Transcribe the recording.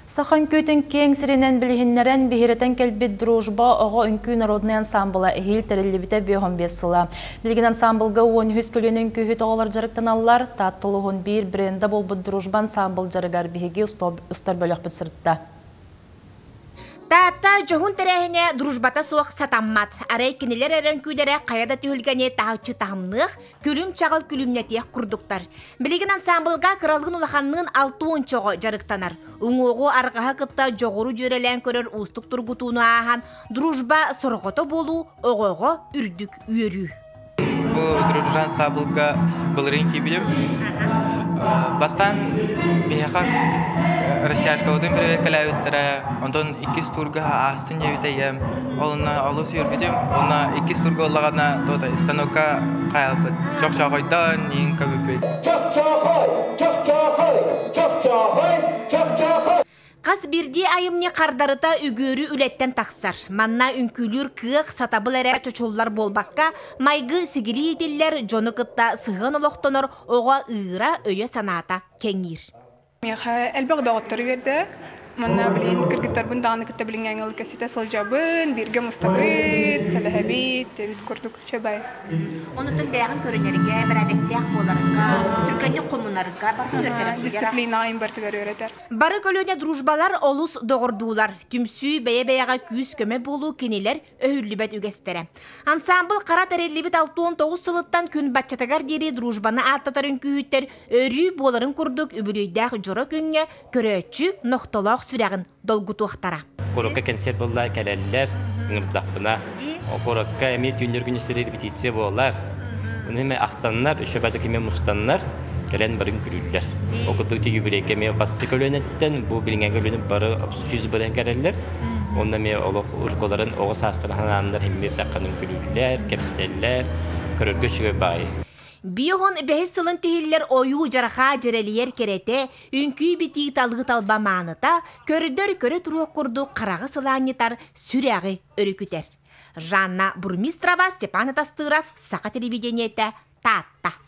Саха үҥкүүтүн киэҥ сиринэн билиһиннэрэн, биһирэтэн кэлбит Дружба оҕо үҥкүү народнай ансаамбыла эһиил тэриллибитэ бүөҕүн биэс сыла. Билигин ансаамбылга уон үһүс көлүөнэ үҥкүүһүт оҕолор дьарыктаналлар, Таатта улууһун биир бренда буолбут Дружба ансаамбыл дьарыгар биһиги устар бөлөхпүт сырытта. Таатта дьоһун тэрээһинэ дружбата суох сатаммат. Арай кинилэр эрэ үҥкүүлэрэ хайа да түһүлгэни таһыччы таһымныах, Күлүм-чаҕыл күлүмнэтиэх курдуктар. Билигин ансаамбылга кыралыгын улаханныын алты уончоҕо дьарыктанар. Уҥуоҕу арҕаһа кытта дьоҕуру дьүөрэлээн көрөр уустук тургутууну ааһан, дружба сорҕото буолуу оҕоҕо үрдүк үөрүү. Бу дружба ансаамбылга былырыын киирбитим. Бастаан биһиэхэ растяжкабытын проверкалаабыттара, онтон иккис турга Синньэбитэйэм онно олус үөрбүтүм уонна иккис турга ыллаҕына туота станокка хаалбыт чохчоохойдон иин көбүппүт чохчоохой чохчоохой чохчоохой чохчоохой хас бирдии айымньы хардарыта үгүөрү үлэттэн тахсар манна үҥкүүлүүр кыах сатабыл эрэ чочуллар буолбакка майгы сигилии итиллэр дьону кытта сыһыан олохтонор оҕо ыыра өйө санаата кэҥиир Миэхэ элбэх доҕоттору биэрдэ. Манна билин кыргыттарбын даҕаны кытта билиҥҥээҥҥыл кэсситэ сылдьабын, бииргэ мустабыт, сэлэһэбит, эбит курдук чэбэй. Онтон бэйэҕин көрүнэргэ, бэрээдэктээх буоларга, түргэнник хомунарга барытын үөрэтэрэ Дисциплинаҕын барытыгар үөрэтэр. Бары көлүөнэ дружбалар олус доҕордуулар. Түмсүү бэйэ-бэйэҕэ күүс-көмө буолуу кинилэр өһүллүбэт үгэстэрэ. Ансаамбыл хара тэриллибит алтуон тоҕус сылыттан күн баччатыгар диэри дружбаны ааттатар үҥкүүһүттэр өрүү буоларын курдук үбүлүөйдээх дьоро күҥҥэ көрөөччү нохтолоох сүрэҕин долгутуохтара. Куоракка кэнсиэр буолла, кэлэллэр, ыҥырдахпына. Куоракка эмиэ түүннэр күн истэрии репетиция буолар. Аны ахтаннар, үшөбэ киме мустаннар. кэлэн барын күлүүллэр. Ол курдук тиги бүрейке эмиэ бассы көлүөнэттэн бу билиҥҥи көлүөнэ бары сүүс бырайан кэлэллэр. Онно эмиэ олох уруккуларын оҕо саастарын ханааннар химмиир тахханым күлүүллэр, кэпсэтэллэр, көрөргө үчүгэй баайы. Биоһон бэһис сылын тиһиллэр ойуу жарахаа дьэрэлийэр кэрэтэ, үҥкүү битии талыы талба мааныта, көрдөр көрө туруох курдук хараҕы сылаанньытар сүрэҕи өрүкүтэр. Жанна Бурмистрова, Степан Атастыров, Саха телевидениетэ, Таатта.